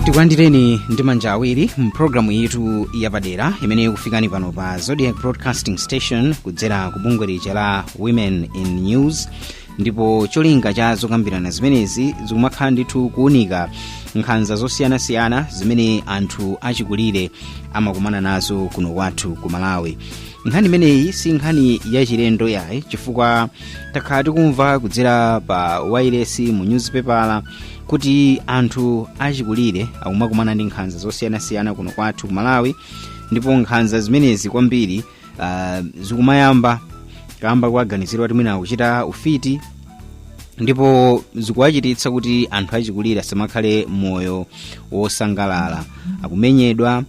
tikulandireni ndi manja awiri mpulogalamu yathu yapadera imene ikufikani pano pa zodiac broadcasting station kudzera ku bungwe lija la women in news ndipo cholinga cha zokambirana zimenezi zikumakhala ndithu kuunika nkhanza zosiyanasiyana zimene anthu achikulire amakumana nazo kuno kwathu ku malawi nkhani imeneyi si nkhani yachilendo yayi chifukwa takhala tikumva kudzera pa wailesi mu nyuzipepala kuti anthu achikulire akumakumana ndi nkhanza zosiyanasiyana kuno kwathu ku malawi ndipo nkhanza zimenezi kwambiri uh, zikumayamba kamba kowaganizira kuti mwina akuchita ufiti ndipo zikuwachititsa kuti anthu achikulire asamakhale moyo wosangalala akumenyedwa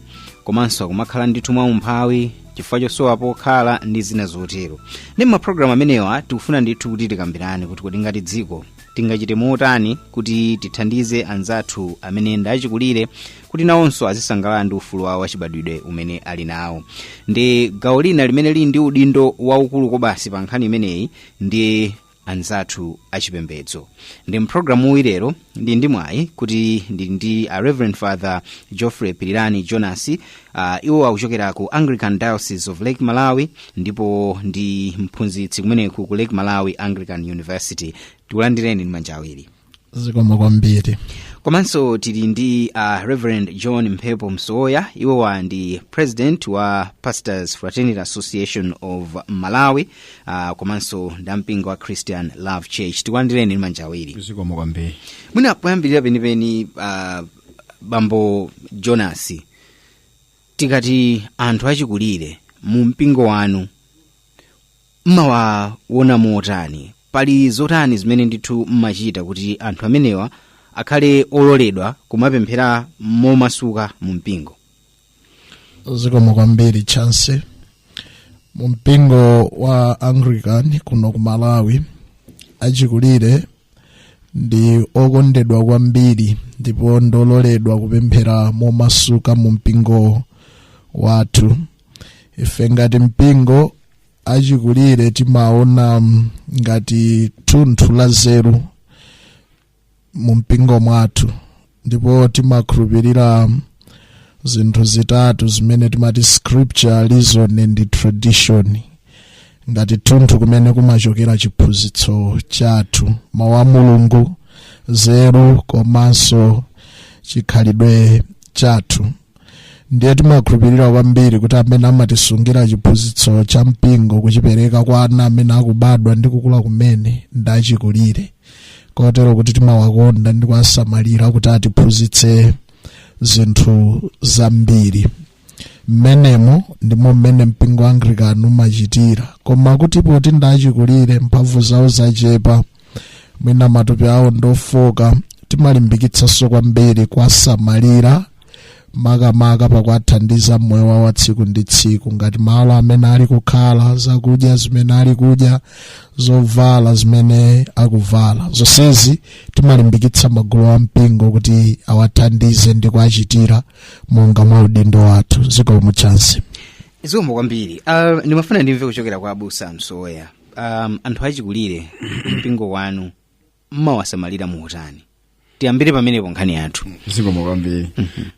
komanso akumakhala ndithu mwaumphawi chifukwa chosowa pokhala ndi zina zotero ndiye mapulogalamu amenewa tikufuna ndithu kuti tikambirane kuti kodi ngati dziko tingachite motani kuti tithandize anzathu amene ndi achikulire kuti nawonso azisangalala ndi ufulu wawo wachibadwidwe umene ali nawo ndiye gawo lina limene lili ndi udindo waukulu kobasi pa nkhani imeneyi ndi anzathu achipembedzo ndiye mpulogalamuyi lero ndili ndi mwayi kuti ndili ndi a reverend father geoffrey pirirani jonas uh, iwo akuchokera ku anglican diocese of lake malawi ndipo ndi mphunzitsi kumeneku ku lake malawi anglican university tikulandireni ndi manja awiri zikomo kwambiri komanso tili ndi uh, reverend john mphepo msowoya iwowa ndi president wa pastors fraternity association of malawi uh, komanso nda mpingo wa christian love church tikulandireni ndi manja awiri zikomo kwambiri mwina poyambirira penipeni uh, bambo jonas tikati anthu achikulire mu mpingo wanu mmawaona motani pali zotani zimene ndithu mmachita kuti anthu amenewa akhale ololedwa kumapemphera momasuka mu mpingo zikomo kwambiri chancy mu mpingo wa anglican kuno ku malawi achikulire ndi okondedwa kwambiri ndipo ndi ololedwa kupemphera momasuka mu mpingo wathu ife ngati mpingo achikulire timawaona mm, ngati thunthu la nzeru mu mpingo mwathu ndipo timakhulupirira zinthu zitatu zimene timati scripture reason and tradition ngati thunthu kumene kumachokera chiphunzitso chathu mawu a mulungu nzeru komanso chikhalidwe chathu ndiye timakhulupirira kwambiri kuti amene amatisungira chiphunzitso cha mpingo kuchipereka kwa ana amene akubadwa ndi kukula kumene ndi achikulire kotero kuti timawakonda ndi kuwasamalira kuti atiphunzitse zinthu zambiri mmenemo ndimo mmene mpingo wa anglican umachitira koma kuti poti ndi achikulire mphamvu zawo zachepa mwina matupi awo ndofoka timalimbikitsanso kwambiri kuwasamalira makamaka pakuwathandiza mmoyo wawo wa tsiku ndi tsiku ngati malo amene ali kukhala zakudya zimene ali kudya zovala zimene akuvala zonsezi timalimbikitsa magulu a mpingo kuti awathandize ndi kuwachitira monga mwa udindo wathu zikomo chancy zikomo kwambiri uh, ndimafuna ndimve kuchokera kwa abusa msowoya um, anthu achikulire mpingo wanu mmawasamalira motani tiyambire pamenepo nkhani yathu zikomo kwambiri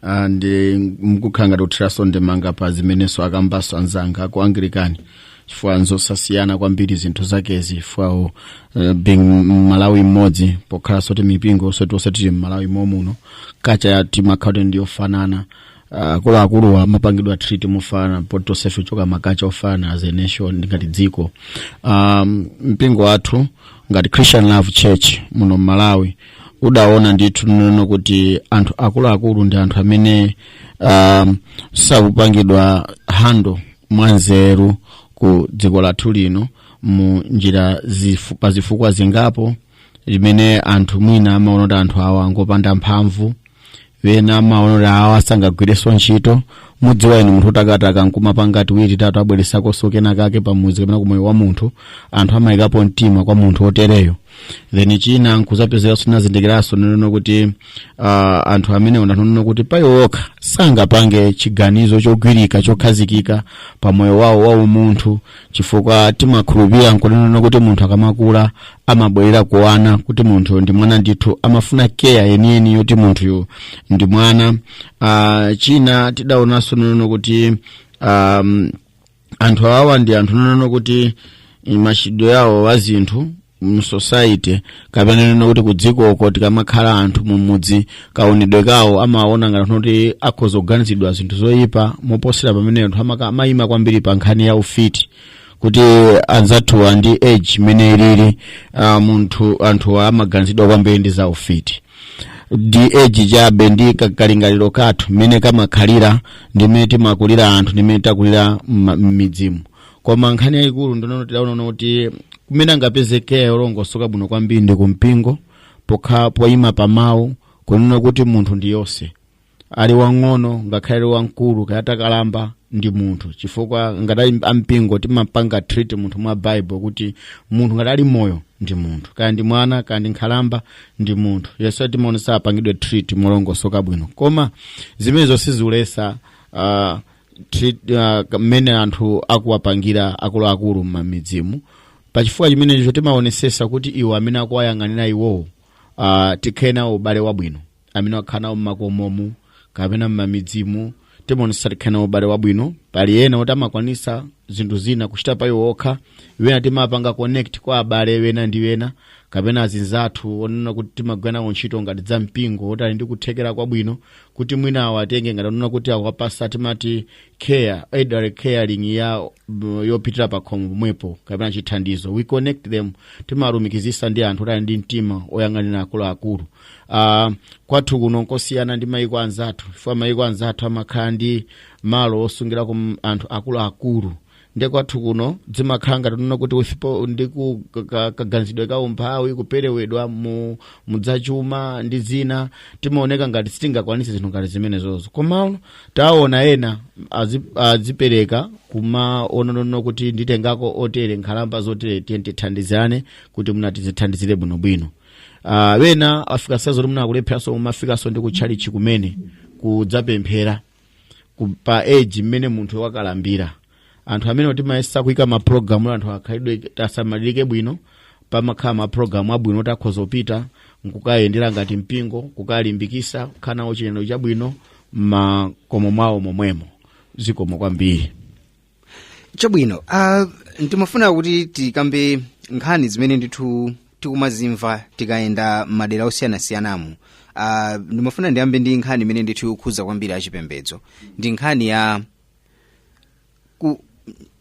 Ah, ndi mkukhala ngati kuthiraso ndemanga pa zimenenso akambaso anzanga ku anglikani chifukwa nzosasiyana kwambiri zinthu zakezi chifukwa uh, being mmalawi mmodzi pokhalaso ti mipingo yoseyi yoseyi ti mmalawi momuno kacha timakhala kuti ndiyofanana akuluakuluwa amapangidwa treat mofanana poti tonsefe tichoka makacha ofanana as a nation ndi ngati dziko um, mpingo wathu ngati christian love church muno mmalawi udaona ndithu nono kuti anthu akuluakulu ndi anthu amene um, sakupangidwa hando mwanzeru ku dziko lathu lino mu njira zifu, pa zifukwa zingapo limene anthu mwina amaona kuti anthu awa ngopanda mphamvu ena amaona kuti awa sangagwirenso ntchito mudziwa inu munthu wotakataka nkumapanga tiwiri tatu abweretsakonso kena kake pamudzi kapena kumoyo wa munthu anthu amayikapo mtima kwa munthu otereyo then china nkuzapezekanso tinazindikiranso nonena kuti uh, anthu amene onena kuti pawokha sangapange chiganizo chogwirika chokhazikika pa moyo wawo wa umunthu chifukwa timakhulupirira nkunena kuti munthu akamakula amabwerera ku wana kuti munthu ndi mwana ndithu amafuna keya yeniyeni yoti munthuyo ndi mwana uh, china tidaonanso nonena kuti um, anthu awawa ndi anthu onena kuti machitidwe yawo wa zinthu msociety kapena kunena kuti kudzikoko tikamakhala anthu mumudzi kaonedwe kawo amaona ngati kuti akhoza kuganizidwa zinthu zoyipa moposera pamene anthu amaka- amayima kwambiri pa nkhani ya ufiti kuti anzathuwa ndi age imene ilili ah, munthu anthuwa amaganizidwa kwambiri ndi za ufiti ndi age chabe ndi ka- kalingaliro kathu mmene kamakhalira ndi mmene timakulira anthu ndi mmene takulira mma- m'midzimu koma nkhani yayikulu ndi yoti tidaona kuti kumene angapezeke olongosoka bwino kwambiri ndi kumpingo pokha poyima pa mawu kunena kuti munthu ndi yense ali wang'ono ngakhale ali wamkulu kaya atakalamba ndi munthu chifukwa ngati ali ampingo timapanga treat munthu mwa bible kuti munthu ngati ali moyo ndi munthu kaya ndi mwana kaya ndi nkhalamba ndi munthu yense timaonesa apangidwe treat molongosoka bwino koma zimenezo sizikuletsa uh, mmene uh, anthu akuwapangira akuluakulu m'mamidzimu pachifukwa chimenecho timaonesesa kuti iwo amene akuwayang'anira iwowo uh, tikhale nawo ubale wabwino amene akhala nawo mmakomomu kapena mmamidzimu timaonesa tikhale nawo ubale wabwino pali ena oti amakwanisa zinthu zina kuchita pa iwo okha ena timapanga connect kwa abale ena ndi ena kapena azinzathu onena kuti timagwira nawo ntchito ngati za mpingo oti ali ndi kuthekera kwabwino kuti mwina awatenge ngati kunena kuti akuwapasa timati care elderly caring ya m- yopitira pa khomo pomwepo kapena chithandizo we connect them timawalumikizisa ndi anthu oti ali ndi mtima oyang'anira akuluakulu uh, kwathu kuno nkosiyana ndi mayiko anzathu chifukwa mayiko anzathu amakhala ndi malo osungirako m- anthu akuluakulu nde kwathu kuno dzimakhala ngati kunena kuti usipo ndi ku- ka- ka- kaganizidwe ka umphawi kuperewedwa mu mudzachuma ndi zina timaoneka ngati sitingakwanise zinthu ngati zimenezozo komano taona ena azi- azipereka kumanena kuti nditengako otere nkhalamba zotere tiye tithandizane kuti mwina tizithandizire bwinobwino Ah, ena afika size yo kuti mwina akulepheranso kumafikaso ndi kutchalitchi kumene kudzapemphera ku- pa age mmene munthu wakalambira anthu amene timayesa kuika mapulogalamu anthu achikulire asamalirike bwino pamakhala mapulogalamu abwino oti tikhoza kupita nkukayendera ngati mpingo kukalimbikisa kukhala nawo chinenero chabwino mmakomo mwawo momwemo zikomo kwambiri chabwino uh, ndimafuna kuti tikambe nkhani zimene ndithu tikumazimva tikayenda m'madera osiyanasiyanamu uh, ndimafuna ndiyambe ndi nkhani imene ndithu ikukhuza kwambiri achipembedzo ndi nkhani ya ku,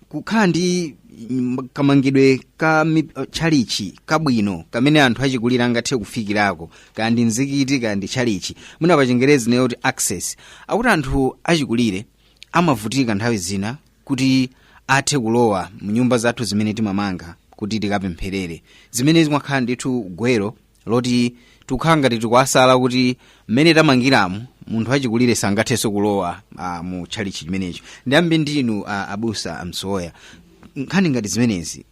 kukhala ndi mm, kamangidwe ka mi- uh, tchalitchi kabwino kamene anthu achikulire angathe kufikirako kaya ndi mzikiti kaya ndi tchalitchi mwina pachingerezi tinene kuti access akuti anthu achikulire amavutika nthawi zina kuti athe kulowa mnyumba zathu zimene timamanga kuti tikapempherere zimene zimakhala ndithu gwero loti tikukhala ngati tikuwasala kuti mmene tamangiramu munthu wachikulire sangathenso kulowa uh, mu tchalitchi chimenecho ndiyambe ndinu uh, abusa a Msowoya nkhani ngati zimenezi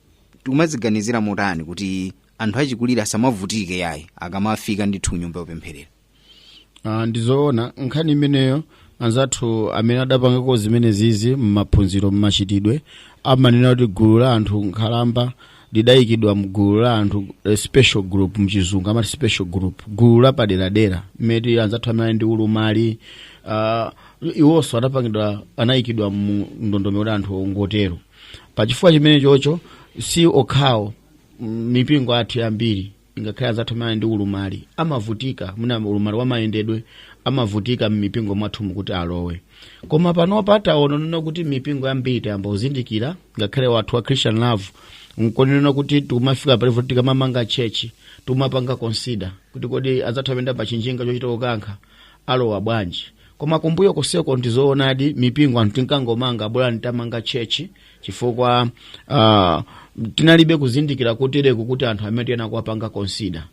tikumaziganizira motani kuti anthu achikulire asamavutike yayi akamafika ndithu mnyumba yopempherera Ah, ndizoona nkhani imeneyo anzathu amene adapangako zimene zizi mmaphunziro mmachitidwe amanena kuti gulu la anthu nkhalamba lidayikidwa mgulu la anthu eh, special group mchizungu amati special group gulu lapaderadera mmene anzathu amene ali ndi ulumali ah, iwonso adapangidwa anayikidwa mu ndondomeko ya anthu oterowo pachifukwa chimene chocho si okhawo mm, mipingo athu yambiri ngakhale anzathu amene ali ndi ulumali amavutika mwina ulumali wamayendedwe amavutika m'mipingo mwathu mukuti alowe koma panopa taona kunena kuti mipingo yambiri tayamba kuzindikira ngakhale wathu wa christian love nkunena kuti tumafika palevo tikamamanga chechi tumapanga consider kuti kodi anzathu amayenda pachinjinga chochita kukankha alowa bwanji koma kumbuyo koseko ndizoonadi mipingo anthu tinkangomanga bola ndi tamanga chechi chifukwa uh, tinalibe kuzindikira kotereku kuti anthu amene tiyenera kuwapanga consider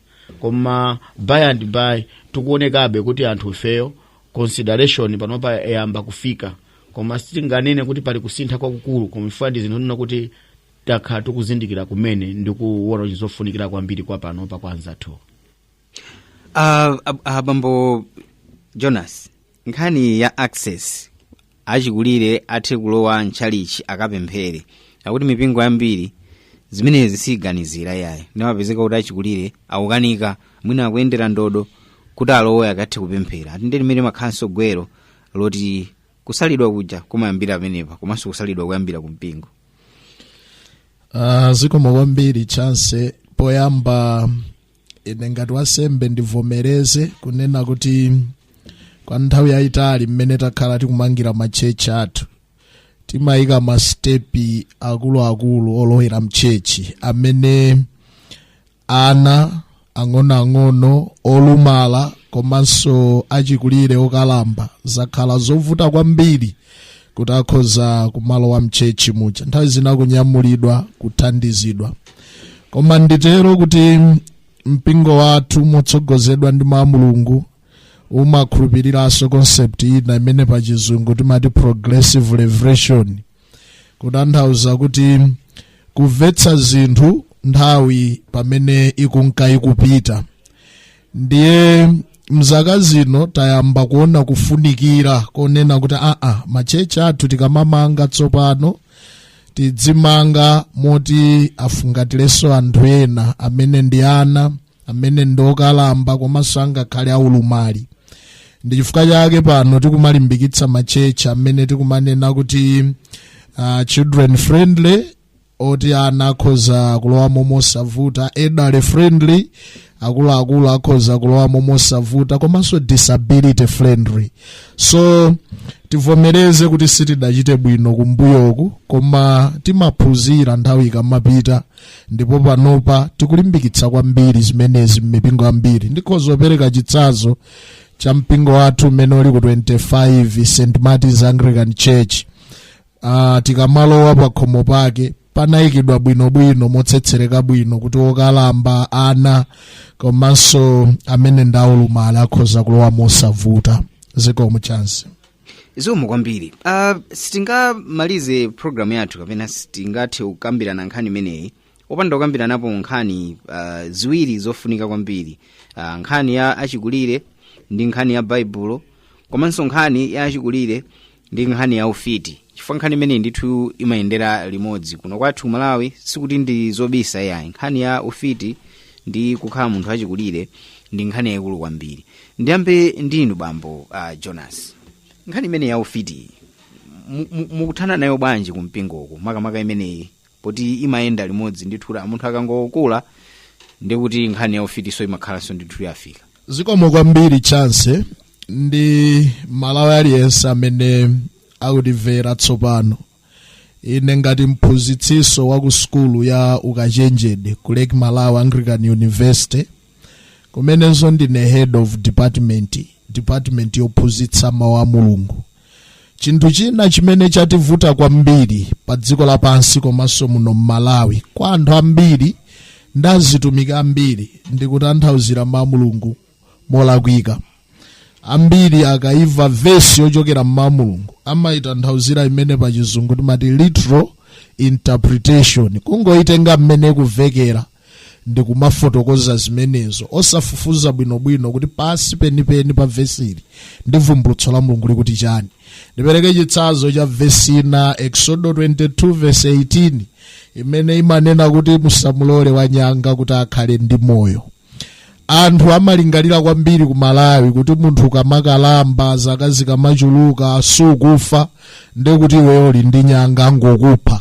koma by and by tikuonekabe kuti anthu ifeyo consideration panopa yayamba kufika koma sitinganene kuti pali kusintha kwakukulu koma chifukwa ndi zinthu zonena kuti takhala tikuzindikira kumene ndi kuona kuti ndi zofunikira kwambiri kwa panopa kwa anzathu Ah, ab- ah, bambo jonas nkhani ya access achikulire athe kulowa mtchalichi akapemphere akuti mipingo yambiri zimenezi siyiganizira yayi ndiye amapezeka kuti achikulire akukanika mwina akuyendera ndodo kuti alowe akathe kupemphera ati ndi limene limakhalanso gwero loti kusalidwa kuja kumayambira pamenepa komanso kusalidwa kuyambira ku mpingo Ah, zikomo kwambiri chance poyamba ine ngati wasembe ndivomereze kunena kuti kwa nthawi yayitali mmene takhala tikumangira matchechi athu timayika masitepi akuluakulu olowera mtchechi amene ana ang'onoang'ono olumala komanso achikulire okalamba zakhala zovuta kwambiri kuti akhoze kumalowa mchechi muja nthawi zina kunyamulidwa kuthandizidwa koma nditero kuti mpingo wathu motsogozedwa ndi mawu a mulungu umakhulupiriranso concept ina imene pa chizungu timati progressive revelation kutanthauza kuti kumvetsa zinthu nthawi pamene ikunka ikupita ndiye mzaka zino tayamba kuona kufunikira konena kuti aa machechi athu tikamamanga tsopano tidzimanga moti afungatirenso anthu ena amene ndi ana amene ndi okalamba komanso angakhale aulumali ndi chifukwa chake pano tikumalimbikitsa machechi amene tikumanena kuti uh, children friendly oti ana akhoza kulowamo mosavuta elderly friendly akuluakulu akhoza kulowamo mosavuta komanso disability friendly so tivomereze kuti sitidachite bwino kumbuyoku koma timaphunzira nthawi ikamapita ndipo panopa tikulimbikitsa kwambiri zimenezi m'mipingo yambiri ndikhoza kupereka chitsanzo cha mpingo wathu umene uli ku 25 st martins anglican church uh, tikamalowa pakhomo pake panayikidwa bwinobwino motsetsereka bwino kuti okalamba ana komanso amene ndi aulumali akhoza kulowa mosavuta zikomo chance zikomo kwambiri uh, sitingamalize programu yathu kapena sitingathe kukambirana nkhani imeneyi opanda kukambiranapo nkhani uh, ziwiri zofunika kwambiri uh, nkhani ya achikulire ndi nkhani ya baibulo komanso nkhani ya achikulire ndi nkhani ya ufiti chifukwa nkhani imeneyi ndithu imayendera limodzi kuno kwathu malawi sikuti ndi zobisa yayi nkhani ya ufiti ndi kukhala munthu wachikulire ndi nkhani yayikulu kwambiri ndiyambe ndinu bambo uh, jonas nkhani imeneyi ya ufiti mu- mu- mukuthana nayo bwanji kumpingoku makamaka imeneyi poti imayenda limodzi ndithu munthu akangokula ndi kuti nkhani ya ufitiso imakhalanso ndithu yafika zikomo kwambiri chance ndi mmalawi aliyense amene akutimvera tsopano ine ngati mphunzitsinso wa ku sukulu ya ukachenjede ku lake malawi anglican university kumenenso ndine head of department department yophunzitsa mawu a mulungu chinthu china chimene chativuta kwambiri pa dziko lapansi komanso muno m'malawi kwa anthu ambiri ndi azitumiki ambiri ndikutanthauzira mawu a mulungu molakwika ambiri akaimva vesi yochokera m'mawu a mulungu amayitanthauzira imene pa chizungu timati literal interpretation kungoyitenga mmene ikumvekera ndi kumafotokoza zimenezo osafufuza bwinobwino kuti pansi penipeni pa vesili ndi vumbulutso la mulungu likuti chani ndipereke chitsanzo cha vesi ina exodo 22 vesi 18 imene imanena kuti musamulole wanyanga kuti akhale ndi moyo anthu amalingalira kwambiri ku malawi kuti munthu ukamakalamba zaka zikamachuluka sukufa ndekuti iweyo uli ndi nyanga angokupha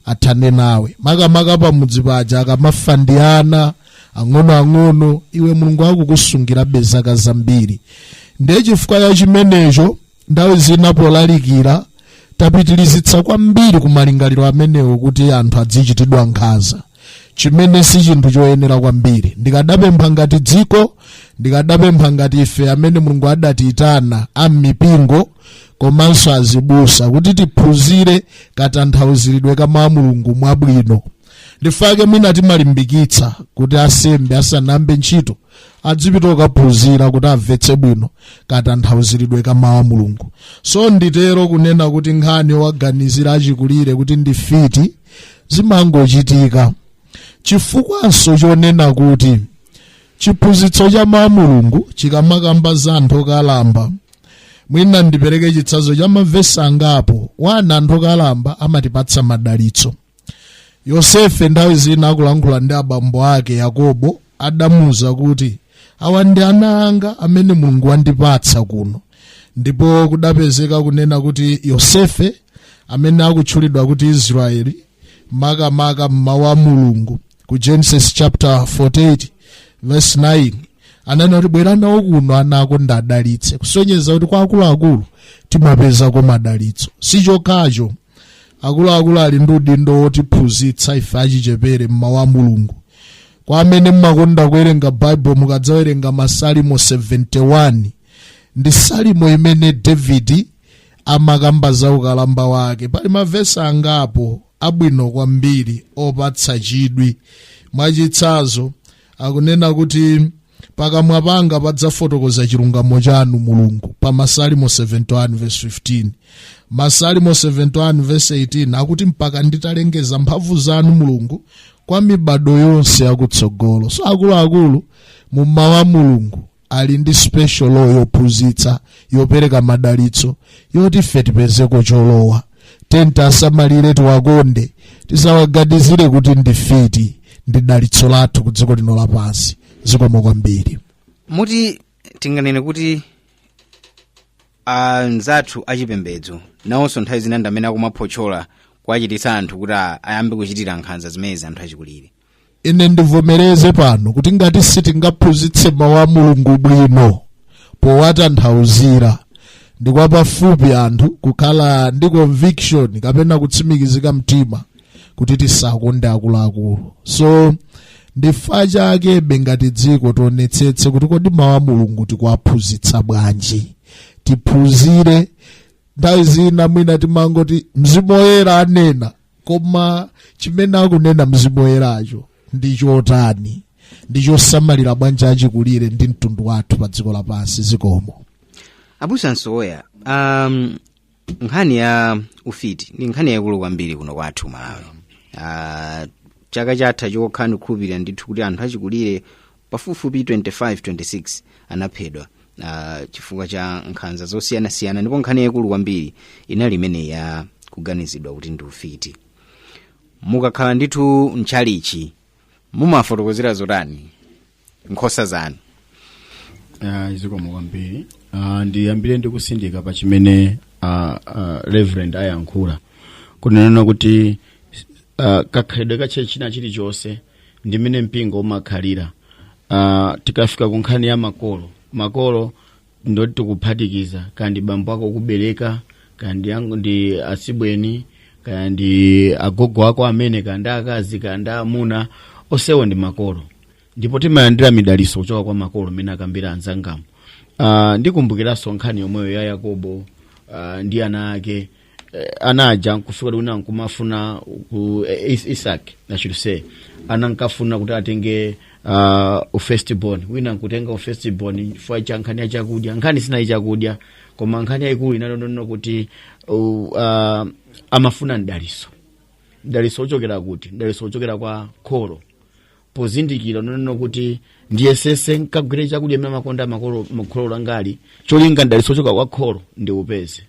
athane nawe makamaka pamudzi paja akamafa ndi ana ang'onoang'ono iwe mulungu akukusungirabe zaka zambiri ndiye chifukwa cha chimenecho nthawi zina polalikira tapitilizitsa kwambiri ku malingaliro amenewo kuti anthu adzichitidwa nkhanza chimene si chinthu choyenera kwambiri ndikadapempha ngati dziko ndikadapempha ngati ife amene mulungu adatiyitana a m'mipingo komanso azibusa kuti tiphunzire katanthauziridwe ka mawu a mulungu mwabwino ndi chifukwa chake mwina timalimbikitsa kuti asembe asanayambe ntchito adzipita kukaphunzira kuti amvetse bwino katanthauziridwe ka mawu a mulungu so nditero kunena kuti nkhani yowaganizira achikulire kuti ndi mfiti zimangochitika chifukwanso chonena kuti chiphunzitso cha mawu a mulungu chikamakamba za anthu okalamba mwina ndipereke chitsanzo cha mavesi angapo ona anthu okalamba amatipatsa madalitso yosefe nthawi zina akulankhula ndi abambo ake yakobo adamuwuza kuti awa ndi ana anga amene mulungu wandipatsa kuno ndipo kudapezeka kunena kuti yosefe amene akutchulidwa kuti israeli makamaka mmawu a mulungu ku genesis chapter 48 verse 9 ananena kuti bwera nawo kuno ana ako ndiwadalitse kusonyeza kuti kwa akuluakulu timapezako madalitso si chokhacho akuluakulu ali ndi udindo wotiphunzitsa ife achichepere mmawu a mulungu kwa amene mmakonda kuwerenga baibulo mukadzawerenga masalimo 71 ndi salimo imene davidi amakamba za ukalamba wake pali mavesi angapo abwino kwambiri opatsa chidwi mwachitsanzo akunena kuti pakamwa panga padzafotokoza chilungamo chanu mulungu pa masalimo 71 verse 15 masalimo 71 verse 18 akuti mpaka nditalengeza mphamvu zanu mulungu kwa mibado yonse yakutsogolo so akuluakulu mmawu a mulungu ali ndi special role yophunzitsa yopereka madalitso yoti ife tipezeko cholowa then tiwasamalire tiwakonde tisawaganizire kuti ndi mfiti ndi dalitso lathu ku dziko lino lapansi zikomo kwambiri muti tinganene kuti anzathu achipembedzo nawonso nthawi zina ndi amene akumaphotchola kuwachititsa anthu kuti a- ayambe kuchitira nkhanza zimenezi anthu achikulire ine ndivomereze pano kuti ngati sitingaphunzitse mawu a mulungu bwino powatanthauzira ndi kwapafupi anthu kukhala ndi conviction kapena kutsimikizika mtima kuti tisakonde akuluakulu so ndi chifukwa chake ngati dziko tionetsetse kuti kodi mawu a mulungu tikuwaphunzitsa bwanji tiphunzire nthawi zina mwina timangoti mzimu woyera anena koma chimene akunena mzimu woyeracho ndi chotani ndi chosamalira bwanji achikulire ndi mtundu wathu pa dziko lapansi zikomo abusa msowoya um, nkhani ya ufiti ndi nkhani yaikulu kwambiri kuno kwathu malawi uh, chaka chatha chokha ndikukhulupirira ndithu kuti anthu achikulire pafupifupi 25, 26 anaphedwa uh, chifukwa cha nkhanza zosiyanasiyana ndipo nkhani yayikulu kwambiri inali imeneyi ya kuganizidwa kuti ndi ufiti mukakhala ndithu mtchalichi mumafotokozera zotani nkhosa zanu Ah, zikomo kwambiri Ah, ndiyambire ndi kutsindika pa chimene ah, ah, reverend ayankhula kunena kuti ah, kakhalidwe ka church china chilichonse ndi mmene mpingo umakhalira uh, tikafika ku nkhani ya makolo makolo ndi oti tikuphatikiza kaya ndi bambo ako okubereka kaya ndi atsibweni kaya ndi agogo ako amene kaya ndi akazi kaya ndi amuna onsewo ndi makolo ndipo timalandira midalitso kuchoka kwa makolo mmene akambira anzangamo uh, ndikumbukiranso nkhani yomweyo ya yakobo uh, ndi ana ake eh, ana aja nkufika kuti wina nkumafuna ku eh, Is- isaki i should say anankafuna kuti atenge uh, u-firstborn wina nkutenga u-firstborn chifukwa cha nkhani ya chakudya nkhani sinali chakudya koma nkhani yayikulu inali yonena kuti uh, uh, amafuna mdalitso mdalitso ochokera kuti mdalitso ochokera kwa kholo pozindikira kunena kuti ndiyesetse nkagwire chakudya mmene amakondera kholo langali cholinga mdalitso ochoka kwa kholo ndiupeze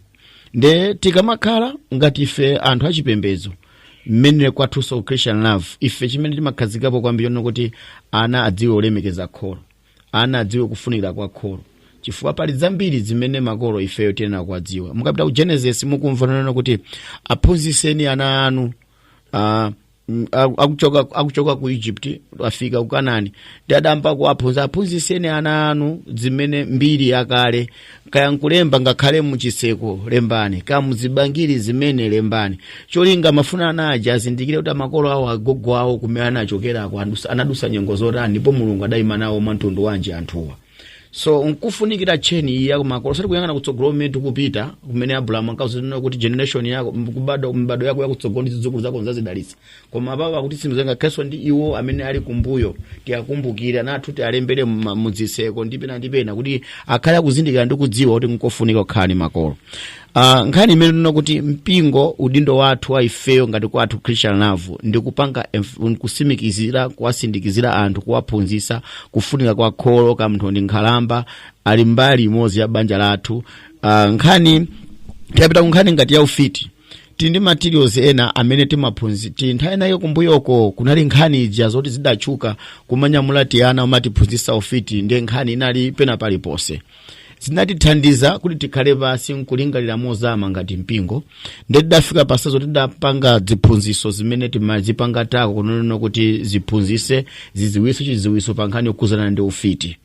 nde tikamakhala ngati ife anthu achipembedzo mmene kwathu so christian love ife chimene timakhazikikapo kwambiri nchonena kuti ana adziwe kulemekeza kholo ana adziwe kufunikira kwa kholo chifukwa pali zambiri zimene makolo ifeyo tiyenera kudziwa mukapita ku genesis mukumva kunena kuti aphunzitseni ana anu uh, Mm, aku- akuchoka akuchoka ku egypt afika ku kanani nde adayamba kuwaphunzitsa aphunzitseni ana anu zimenezi mbiri yakale kaya nkulemba ngakhale m'chitseko lembani kaya muzibangiri zimenezi lembani cholinga amafuna ana aja azindikire kuti makolo awo agogo awo kumene anachokerako adusa- anadusa nyengo zotani ndipo mulungu adayima nawo mwa mtundu wanji anthuwa so nkufunikira tcheni iyi yakumakolo osati kuyang'ana kutsogolo kumene tikupita kumene abrahamu ankauzidwa kunena kuti generation yako mbadwo yako yakutsogolo ndi zidzukulu zako ndzazidalitsa koma apapo akuti simzenga kheso ndi iwo amene ali kumbuyo tiwakumbukire ana athu tiwalembere mma- muzitseko ndi pena ndi pena kuti akhale akuzindikira ndi kudziwa kuti nkofunika kukhala ndi makolo Uh, nkhani imene tinena kuti mpingo udindo wathu wa ifeyo ngati kwathu christian love ndi kupanga enf- kutsimikizira kuwatsindikizira anthu kuwaphunzitsa kufunika kwa kholo kaya munthu ndi nkhalamba ali mbali imodzi ya banja lathu uh, tikapita ku nkhani ngati ya ufiti tili ndi materials ena amene timaphunzitsa nthawi inayo kumbuyoko kunali nkhani ija zoti zidatchuka kuti amanyamula tiana kumatiphunzitsa ufiti ndiye nkhani inali pena paliponse zinatithandiza kuti tikhale pansi nkulingalira mozama ngati mpingo nde tidafika pa size yoti tidapanga ziphunziso zimene timazipanga tackle kunena kuti ziphunzise ziziwiso chiziwiso pa nkhani yokhudzana ndi ufiti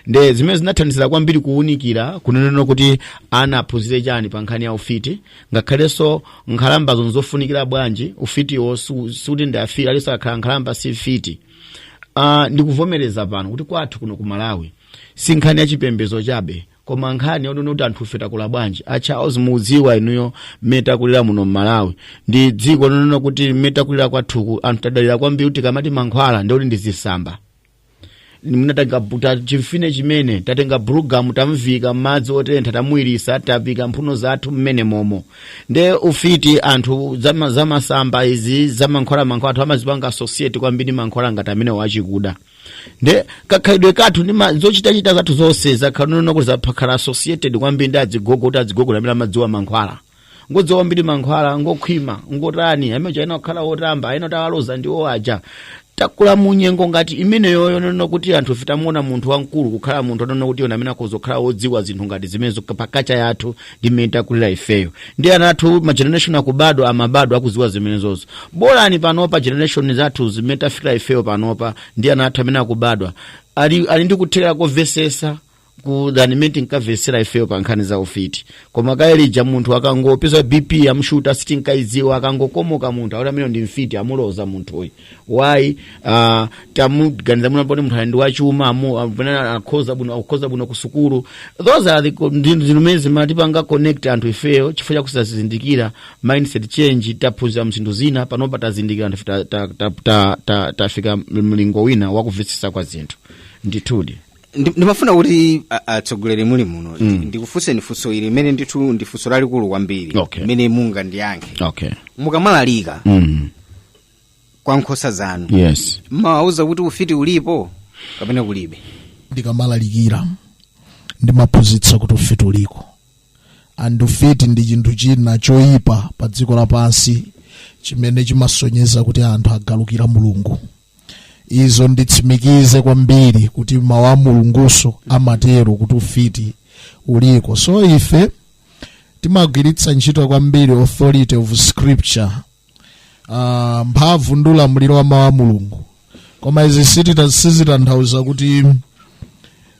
nde zimene zinathandizira kwambiri kuwunikira kunenena kuti ana aphunzire chani pa nkhani ya ufiti ngakhalenso nkhalambazo nzofunikira bwanji ufitiwo su- sikuti ndi afiti aliyense akhala nkhalamba si mfiti uh, ndikuvomereza pano kuti kwathu kuno ku malawi si nkhani ya chipembedzo chabe koma nkhani yonena kuti anthufe takula bwanji a charles mukudziwa inuyo mmene takulira muno mmalawi ndi dziko lonena kuti mmene takulira kwathuku anthu tadalira kwambiri kuti tikamati mankhwala nde kuti ndi zitsamba munatenga buta chimfine chimene tatenga bulugamu tamviika madzi otentha tamuwiritsa taviika mphuno zathu mmenemomo nde ufiti anthu zama- zamasamba izi zamankhwala mankhwala anthu amazipanga associate kwambiri mankhwala ngati amenewa achikuda nde kakhalidwe kathu ndi ma- zochitachita zathu zonse zakhala zonena kuti zimakhala associated kwambiri ndi azigogo kuti azigogo amene amadziwa mankhwala ngodziwa kwambiri mankhwala ngokhwima ngotani amene chaina kukhala otamba ena kuti awaloza ndi owaja takula munyengo ngati imeneyo yonena kuti anthufe timamuona munthu wamkulu kukhala munthu onena kuti yona amene akuzokhala wodziwa zinthu ngati zimenezo pa culture yathu ndi mmene takulira ifeyo ndi ana athu ma generation akubadwa amabadwa akuziwa zimenezozo bolani panopa generation zathu zimene tafikira ifeyo panopa ndi ana athu amene akubadwa ali, ali ndi kuthekera kovesesa kusiyana ndi mmene tinkavesera ifeyo pa nkhani za ufiti koma kalelija munthu akangopeza bp yamshuta sitinkayidziwa akangokomoka munthu akuti amene ndi mfiti amuloza munthuyi why uh, tamuganiza mwina poti munthu ali ndi wachuma amu amvana akukhoza bwino akukhoza bwino ku sukulu those are the co- ndi- zinthu zimene zimatipanga connect anthu ifeyo chifukwa chakusazindikira mindset change taphunzira zinthu zina panopa tazindikira anthu ta- ta- ta- ta- ta- tafika mlingo wina wakumvetsetsa kwa zinthu ndithudi Ndi- ndimafuna kuti a- atsogoleri muli muno mm. ndikufunseni funso ili limene ndithu ndi funso lalikulu kwambiri Okay. limene mungandiyankhe okay mukamalalika mm. kwa nkhosa zanu yes mmawauza kuti ufiti ulipo kapena kulibe ndikamalalikira ndimaphunzitsa kuti ufiti uliko and ufiti ndi chinthu china choyipa pa dziko lapansi chimene chimasonyeza kuti anthu agalukira mulungu izo nditsimikize kwambiri kuti mawu a mulungunso amatero kuti ufiti uliko so ife timagwiritsa ntchito kwambiri authority of scripture uh, mphamvu ndi ulamuliro wa mawu a mulungu koma izi sitita- sizitanthauza kuti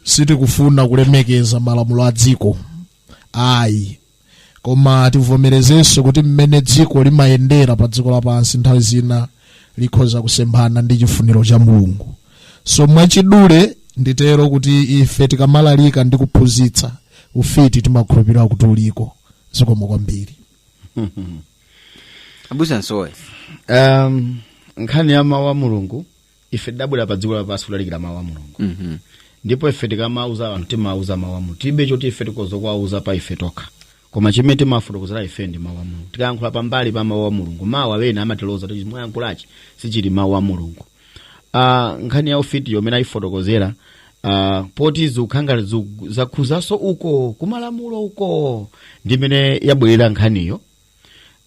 sitikufuna kulemekeza malamulo a dziko ayi koma tivomerezenso kuti mmene dziko limayendera pa dziko lapansi nthawi zina likhoza kusemphana ndi chifuniro cha mulungu so mwachidule nditero kuti ife tikamalalika ndi kuphunzitsa ufiti timakhulupirira kuti uliko zikomo kwambiri abusa nsowe um, nkhani ya mawu a mulungu ife tidabwera pa dziko lapansi kulalikira mawu a mulungu Mhm. ndipo ife tikamauza anthu timauza mawu a mulungu tilibe choti ife tikhoza kuwauza pa ife tokha koma chimene timafotokozera ife ndi mawu a mulungu tikayankhula pambali pa mawu a mulungu mawu amene amatiloza kuti mwayankhulachi sichili mawu a mulungu uh, nkhani ya ufitiyo mmene ayifotokozera uh, poti zikukhanga ziku- zakhuzanso uko kumalamulo uko ndimene yabwerera nkhaniyo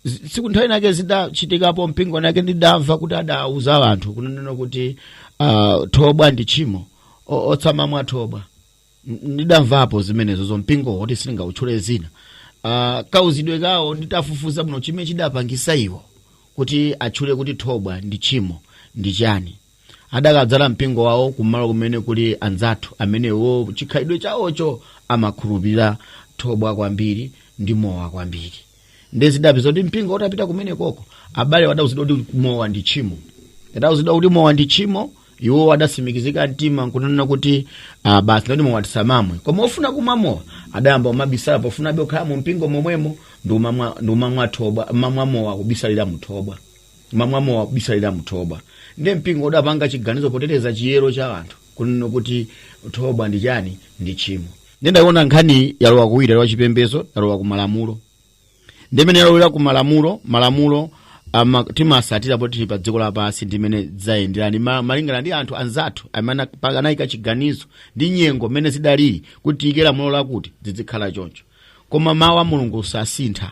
Z- tsiku nthawi nake zidachitikapo mpingo winawake ndidamva kuti adauza anthu kunenena kuti uh, thobwa ndi tchimo O- osamamwa thobwa N- ndidamvapo zimenezozo mpingo woti sindingawutchule zina uh, kauzidwe kawo nditafufuza bwino chimene chidapangisa iwo kuti atchule kuti thobwa ndi tchimo ndi chani adakadzala mpingo wawo kumalo kumene kuli anzathu amenewo chikhalidwe chawocho amakhulupirira thobwa kwambiri ndi mowa kwambiri nde zidapezeka kuti mpingo utapita kumene koko abale adauzidwa kuti mowa ndi tchimo adauzidwa kuti mowa ndi tchimo iwo adatsimikizika mtima nkunena kuti ah, basi ndoti mowa tisamamwe koma ofuna kumwa mowa adayamba kumabisala pofuna abe okhala mu mpingo momwemo ndi umamwa ndi umamwa thobwa mamwa mowa kubisalira muthobwa mamwa mowa kubisalira muthobwa nde mpingo udapanga chiganizo poteteza chiyero cha anthu kunena kuti thobwa ndi chani ndi tchimo nde ndayiona nkhani yalowa kuwiri yalowa chipembezo yalowa ku malamulo ndimene yalowera ku malamulo malamulo ama, timatsatira poti tili pa dziko lapansi ndimene zayenderani ma, malingana ndi anthu anzathu amene ana- anayika chiganizo ndi nyengo mmene zidalili kuti tiyike lamulo lakuti zizikhala choncho koma mawu a mulungu sasintha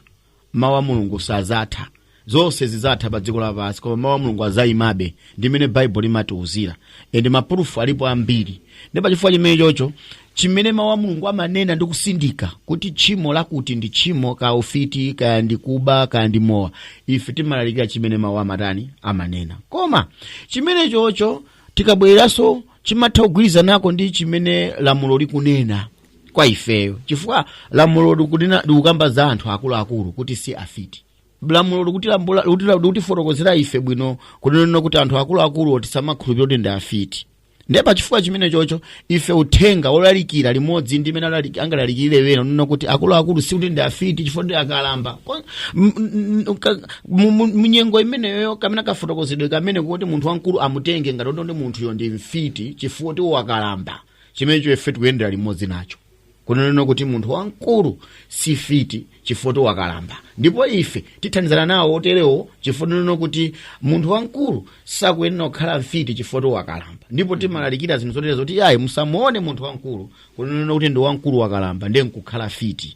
mawu a mulungu sadzatha zonse zidzatha pa dziko lapansi koma mawu a mulungu adzayimabe ndi mmene baibulo limatiuzira ende mapurufu alipo ambiri nde pachifukwa chimene chocho chimene mawu a mulungu amanena ndi kusindika kuti tchimo lakuti ndi tchimo kaya ufiti kaya ndi kuba kaya ndi mowa ife timalalikira chimene mawu amatani amanena koma chimene chocho tikabwereranso chimatha kugwirizanako ndi chimene lamulo likunena kwa ifeyo chifukwa lamulo likunena- likukamba za anthu akuluakulu kuti si afiti lamulo likutilambula- likutila- likutifotokozera ife bwino kunena kuti anthu akuluakulu tisamakhulupirira kuti ndi afiti ndiye pa chifukwa chimene chocho ife uthenga wolalikira limodzi ndi mmene alali- angalalikirire ena kunena kuti akuluakulu si kuti ndi afiti chifukwa ndi akalamba Ko- m- m- m- ka- mu- mu- munyengo imeneyo kamene kafotokozedwe kamene kuti munthu wamkulu amutenge ngati kuti ndi munthuyo ndi mfiti chifukwa kuti wakalamba chimenecho ife tikuyendera limodzi nacho kunenena kuti munthu wamkulu si fiti chifukwa wakalamba ndipo ife tithandizana nawo oterewo chifukwa tikunena kuti munthu wamkulu sakuyenera kukhala mfiti chifukwa wakalamba ndipo timalalikira zinthu zotere zoti ayi musamuone munthu wamkulu kunenena kuti ndi wamkulu wakalamba ndiye nkukhala fiti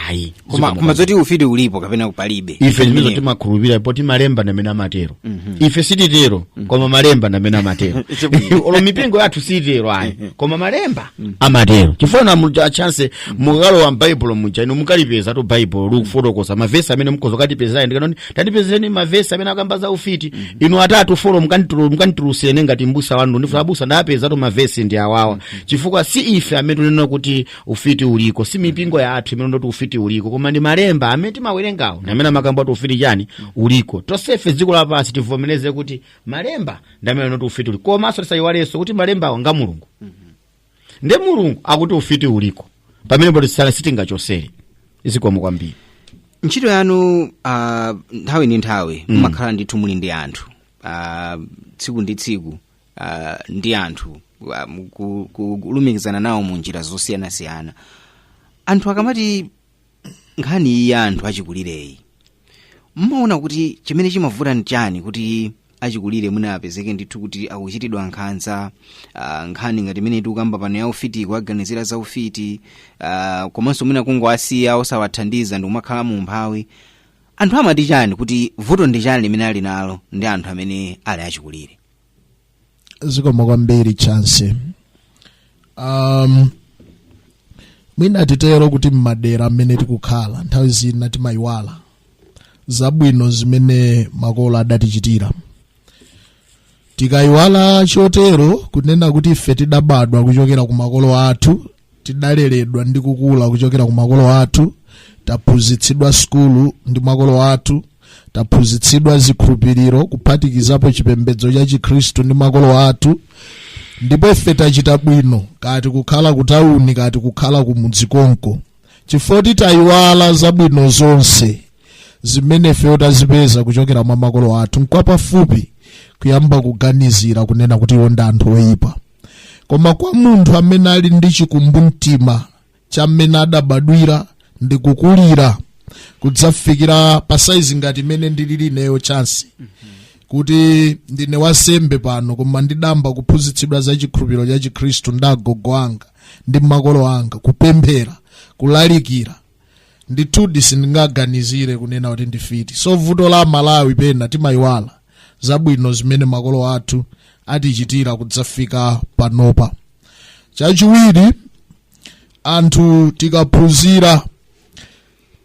ayi koma Zikomo koma zoti ufiti ulipo kapena palibe ife zimene Imeneyo. timakhulupirira poti malemba ndamene amatero ife sititero koma malemba ndamene amatero Chabwino. olo mipingo yathu sititero ayi koma malemba amatero chifukwa inu chance mukalowa m'baibulo muja inu mukalipeza kuti baibulo likufotokoza mavesi amene mukhoza katipezera ndikanena tatipezereni mavesi amene akamba za ufiti inu atatu folo mukanditulu- mukanditulusirene ngati mbusa wanu ndifuna abusa ndapeza kuti mavesi ndi awawa chifukwa si ife amene tunena kuti ufiti uliko si mipingo yathu imene ikuti ufiti uliko koma ndi malemba amene timawerengawo ndi amene amakamba kuti ufiti chani uliko tonsefe dziko lapansi tivomereze kuti malemba ndi amene akuti ufiti uliko komanso tisayiwalenso kuti malembawo nga mulungu nde mulungu akuti ufiti uliko pamene poti sala sitingachosere zikomo kwambiri ntchito yanu uh, nthawi ndi nthawi mumakhala ndithu muli ndi anthu uh, tsiku ndi tsiku uh, ndi anthu um, ku- ku- kulumikizana nawo mu njira zosiyanasiyana anthu akamati nkhani iyi ya anthu achikulireyi mmaona kuti chimene chimavuta ndi chani kuti achikulire mwina apezeke ndithu kuti akuchitidwa nkhanza uh, nkhani ngati imene tikukamba pano ya ufiti kuwaganizira za ufiti uh, komanso mwina kungowasiya osawathandiza ndikumakhala mu umphawi anthu amati chani kuti vuto ndi chani limene ali nalo ndi anthu amene ali achikulire zikomo kwambiri chance um, mwina titero kuti mmadera mmene tikukhala nthawi zina timayiwala zabwino zimene makolo adatichitira tikayiwala chotero kunena kuti ife tidabadwa kuchokera ku makolo athu tidaleredwa ndi kukula kuchokera ku makolo athu taphunzitsidwa sukulu ndi makolo athu taphunzitsidwa zikhulupiriro kuphatikizapo chipembedzo cha chikhristu ndi makolo athu ndipo ife tachita bwino kaya tikukhala kutawuni kaya tikukhala kumudzi konko chifukwa choti tayiwala zabwino zonse zimene ifeyo tazipeza kuchokera mwa makolo athu nkwapafupi kuyamba kuganizira kunena kuti iwo ndi anthu oyipa koma kwa munthu amene ali ndi chikumbumtima cha mmene adabadwira ndi kukulira kudzafikira pa saizi ngati imene ndilili ineyo chansi kuti ndine wansembe pano koma ndidayamba kuphunzitsidwa za chikhulupiriro cha chikhristu ndi agogo anga ndi makolo anga kupemphera kulalikira ndithudi sindingaganizire kunena kuti ndi mfiti so vuto la malawi pena timayiwala zabwino zimene makolo athu atichitira kudzafika panopa chachiwiri anthu tikaphunzira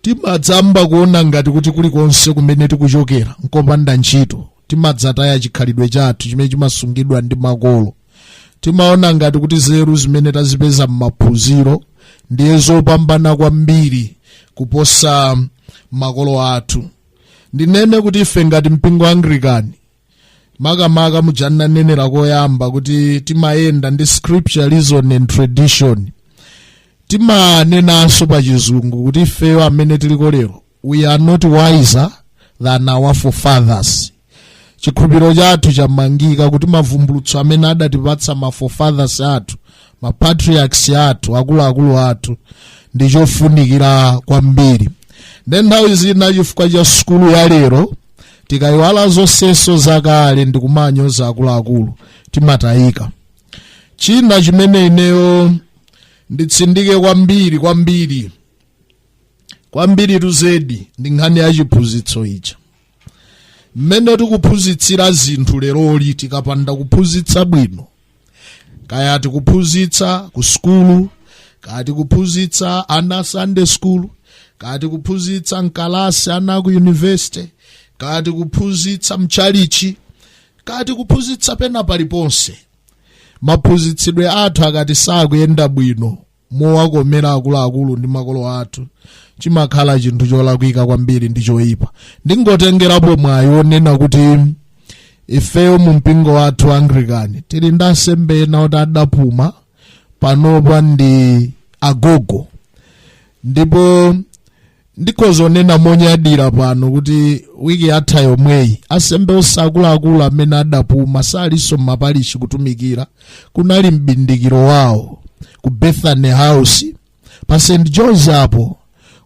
timadzayamba kuona ngati kuti kulikonse kumene tikuchokera nkopanda ntchito timadzataya chikhalidwe chathu chimene chimasungidwa ndi makolo timaona ngati kuti nzeru zimene tazipeza m'maphunziro ndiye zopambana kwambiri kuposa makolo athu ndinene kuti ife ngati mpingo wa anglikani makamaka muja ndanenera koyamba kuti timayenda ndi scripture reason and tradition timanenanso pa chizungu kuti ifeyo amene tiliko lero we are not wiser than our forefathers chikhulupiriro chathu chamangika kuti mavumbulutso amene adatipatsa ma forefathers athu ma patriarchs athu akuluakulu athu ndi chofunikira kwambiri nde nthawi zina chifukwa cha sukulu ya lero tikayiwala zonsezo zakale ndi kumanyoza akuluakulu timatayika china chimene ineyo nditsindike kwambiri kwambiri kwambiritu zedi ndi nkhani ya chiphunzitso ija mmene tikuphunzitsira zinthu leroli tikapanda kuphunzitsa bwino kaya tikuphunzitsa ku sukulu kaya tikuphunzitsa ana sunday school kaya tikuphunzitsa mkalasi ana ku university kaya tikuphunzitsa mtchalitchi kaya tikuphunzitsa pena paliponse maphunzitsidwe athu ngati sakuyenda bwino mowakomera akuluakulu ndi makolo athu chimakhala chinthu cholakwika kwambiri ndi choyipa ndingotengerapo mwayi wonena kuti ifeyo mu mpingo wathu wa anglikani tili ndi ansembe ena oti adapuma panopa ndi agogo ndipo ndikhoza kunena monyadira pano kuti wiki yatha yomweyi ansembe onse akuluakulu amene adapuma salinso m'mapalishi kutumikira kunali mbindikiro wawo ku bethany house pa st george apo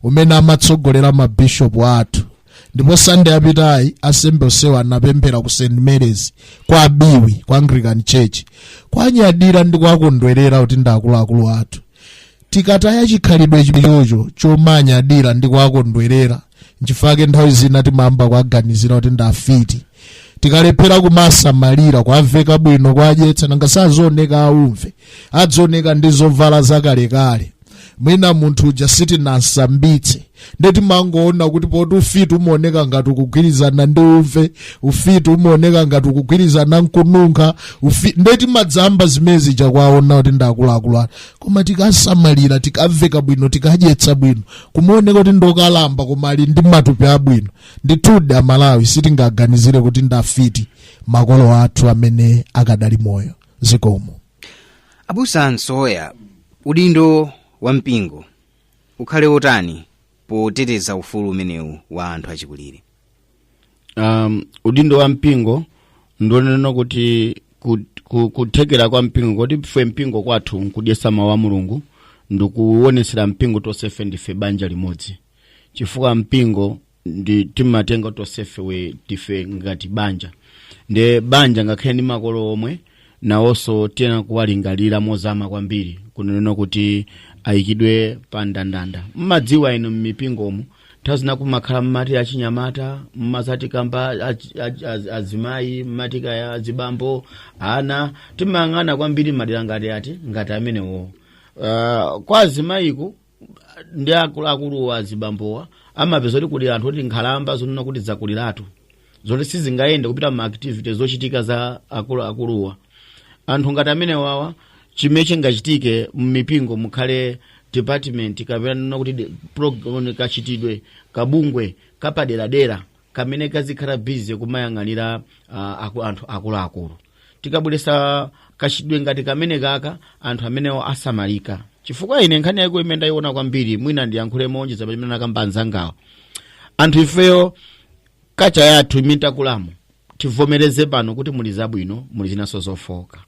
umene amatsogolera mabishopu athu ndipo sande yapitayi ansembe onsewa anapemphera ku st marys kwa biwi ku anglican church kuwanyadira ndi kuwakondwerera kuti ndi akuluakulu athu tikataya chikhalidwe chimenecho chomanyadira ndi kuwakondwerera nchifukwa nthawi zina timayamba kuwaganizira kuti ndi afiti tikalephera kuwasamalira kuwaveka bwino kuwadyetsa nanga sazioneka auve adzioneka ndi zovala zakalekale mwina munthu uja sitinamsambitse nde timangoona kuti poti ufiti umaoneka ngati ukugwirizana ndi uve ufiti umaoneka ngati ukugwirizana nkununkha ufi nde timadzayamba zimenezi zakuwaona kuti ndakuluakulu koma tikawasamalira tikawaveka bwino tikawadyetsa bwino kumaoneka kuti ndokalamba koma ali ndi matupi abwino ndithudi amalawi sitingaganizire kuti ndafiti makolo athu amene akadali moyo zikomo abusa nsoya udindo wa mpingo ukhale wotani poteteza ufulu umenewu wa anthu achikulire um, udindo wa mpingo ndi wonena kuti ku- ku- kuthekera kwa mpingo kuti ife mpingo kwathu nkudyetsa mawu a mulungu ndikuwonesera mpingo tonsefe ndife banja limodzi chifukwa mpingo ndi timatenga tonsefe tili ngati banja nde banja ngakhale ndi makolo omwe nawonso tiyenera kuwalingalira mozama kwambiri kunena kuti ayikidwe pa ndandanda mmadziwa inu mmipingomu nthawi zina kumakhala mmati achinyamata mmadzati kaya achi- achi- az- azimayi mmati kaya azibambo ana timayang'ana kwambiri madera ngati ati ngati amenewowo uh, kwa azimayiku ndi akuluakulu azibambowa mumapeza kuti kuli anthu oti nkhalamba zonena kuti zakuliratu zoti sizingayende kupita mma activities zochitika za akuluakuluwa anthu ngati amenewawa chimene chingachitike mmipingo mukhale department kapena nena kuti de- program- kachitidwe kabungwe kapaderadera kamene kazikhala busy kumayang'anira ah, aku- anthu akuluakulu tikabweresa kachitidwe ngati kamenekaka anthu amenewo asamalika chifukwa ine nkhani yako imene ndayiona kwambiri mwina ndiyankhule moonjeza pamene anakamba anzangawo anthu ifeyo culture yathu imene takulamo tivomereze pano kuti muli zabwino muli zinanso zofooka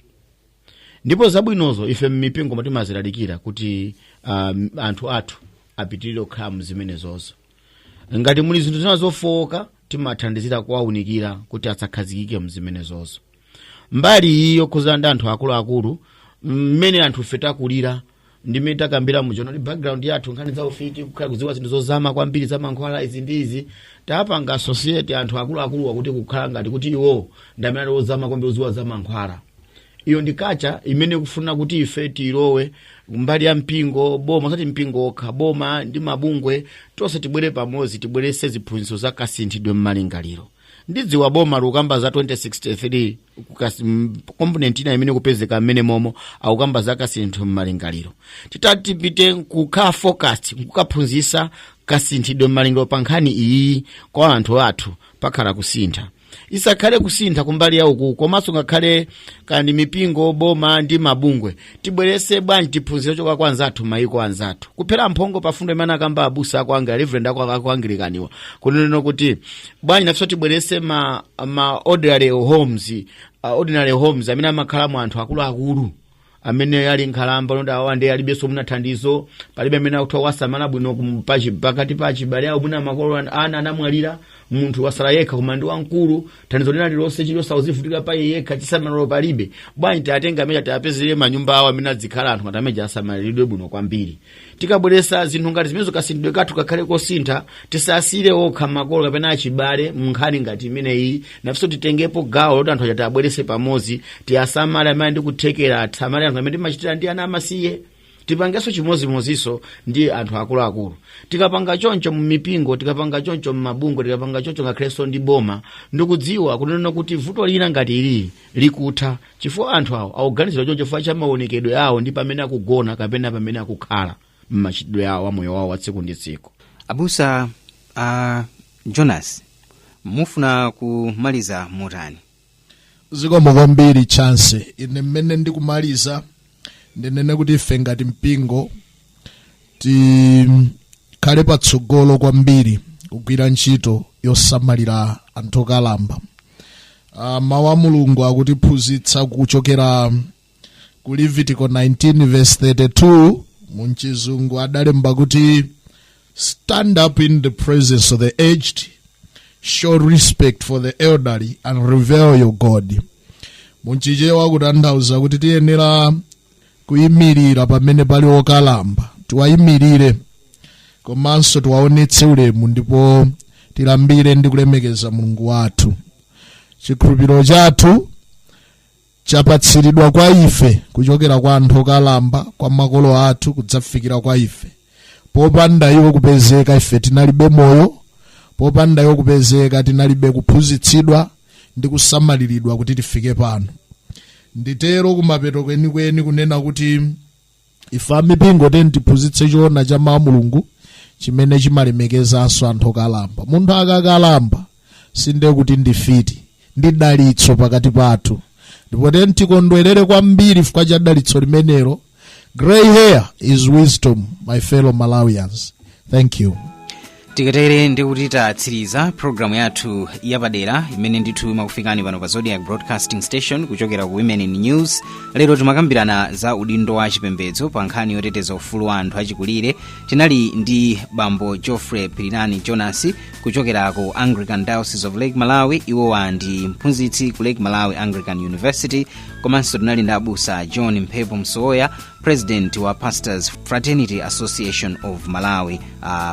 ndipo zabwinozo ife mmipingomu timazilalikira kuti um, anthu athu apitirire kukhala mzimenezozo ngati muli zinthu zina zofooka timathandizira kuwaunikira kuti asakhazikike mzimenezozo mbali iyi yokhuzana ndi anthu akuluakulu mmene anthu ife takulira ndi mmene takambira mu general background yathu nkhani za ufiti kukhala kudziwa zinthu zozama kwambiri za mankhwala izi ndi izi tapanga associate anthu akuluakuluwa kuti kukhala ngati kuti iwo ndi amene ali ozama kwambiri odziwa za mankhwala iyo ndi culture imene ikufuna kuti ife tiyilowe mbali ya mpingo boma osati mpingo okha boma ndi mabungwe tonse tibwere pamodzi tibwerese ziphunzitso za kasinthidwe mmalingaliro ndidziwa boma likukamba za 2063 component ina imene ikupezeka mmene momo akukamba za kasinthidwe mmalingaliro titati tipite nkuka focus nkukaphunzisa kasinthidwe mmalingaliro pa nkhani iyi kwa anthu athu pakhala kusintha isakhale kusintha kumbali ya uku komanso ngakhale kandi mipingo boma ndi mabungwe tibwerese bwanji tiphunzire kuchoka kwa anzathu mayiko anzathu kuphera mphongo pa fundo imene anakamba abusa aku angli- reverend aku anglican-wa kunena kuti bwanji nafeso tibwerese ma elderly homes elderly homes amene amakhalamo anthu akuluakulu amene ali nkhalamba oti awa ndiye alibenso mwina thandizo palibe amene akutha kuwasamala bwino pakati pa achibale awo mwina makolo ana anamwalira munthu wasala yekha koma ndi wamkulu thandizo lina lilonse chilichonse akuzivutikira pa iye yekha chisamaliro palibe bwanji tiwatenge amenewa tiwapezere manyumba awo amene adzikhala anthu ngati amenewa asamaliridwe bwino kwambiri tikabweresa zinthu ngati zimenezo kasinthidwe kathu kakhale kosintha tisasiyire okha makolo kapena achibale munkhani ngati imeneyi nafenso titengepo gawo loti anthu ajawa tiwabwerese pamodzi tiwasamale ndi kuthekera ngati mmene timachitira ndi ana amasiye tipangenso chimodzimodzinso ndi anthu akuluakulu tikapanga choncho mumipingo tikapanga choncho mmabungwe tikapanga choncho ngakhalenso ndi boma ndikudziwa kunena kuti vuto lina ngati ili likutha chifukwa anthu awo akuganiziridwa choncho chifukwa cha maonekedwe awo ndi pamene akugona kapena pamene akukhala m'machitidwe awo amoyo wawo wa tsiku ndi tsiku abusa a jonas mufuna kumaliza motani zikomo kwambiri chance ine mmene ndikumaliza ndinene kuti ife ngati mpingo tikhale patsogolo kwambiri kugwira ntchito yosamalira anthu okalamba Ah, mawu a mulungu akutiphunzitsa kuchokera ku levitiko 19 verse 32 mu chizungu adalemba kuti stand up in the presence of the aged show respect for the elderly and revere your god mu chichewa kutanthauza kuti tiyenera kuyimirira pamene pali okalamba tiwayimirire komanso tiwaonetse ulemu ndipo tilambire ndi kulemekeza mulungu wathu chikhulupiriro chathu chapatsiridwa kwa ife kuchokera kwa anthu okalamba kwa makolo athu kudzafikira kwa ife popanda iwo kupezeka ife tinalibe moyo popanda iwo kupezeka tinalibe kuphunzitsidwa ndi kusamaliridwa kuti tifike pano nditero kumapeto kwenikweni kunena kuti ife amipingo tiyeni tiphunzitse choona cha mawu a mulungu chimene chimalemekezanso anthu okalamba munthu akakalamba sindiye kuti ndifiti ndi dalitso pakati pathu ndipo tiyeni tikondwerere kwambiri chifukwa cha dalitso limenelo gray hair is wisdom my fellow malawians thank you tikatere ndi kuti tatsiriza programu yathu yapadera imene ndithu imakufikani pano pa zodiak broadcasting station kuchokera ku women in news lero timakambirana za udindo wa chipembedzo pa nkhani yoteteza ufulu wa anthu achikulire tinali ndi bambo geoffrey pilirani jonas kuchokera ku anglican diocese of lake malawi iwowa ndi mphunzitsi ku lake malawi anglican university komanso tinali ndi abusa john mphepo msowoya president wa pastors fraternity association of malawi uh,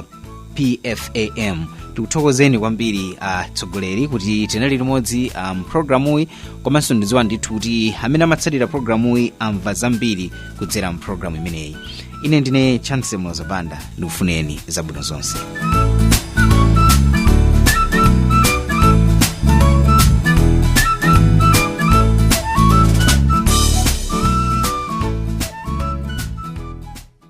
pfam tikuthokozeni kwambiri atsogoleri uh, kuti tinali limodzi mpulogalamuyi um, komanso ndidziwa ndithu kuti amene amatsatira pulogalamuyi amva zambiri kudzera mpulogalamu imeneyi ine ndine chance mloza banda ndikufunireni zabwino zonse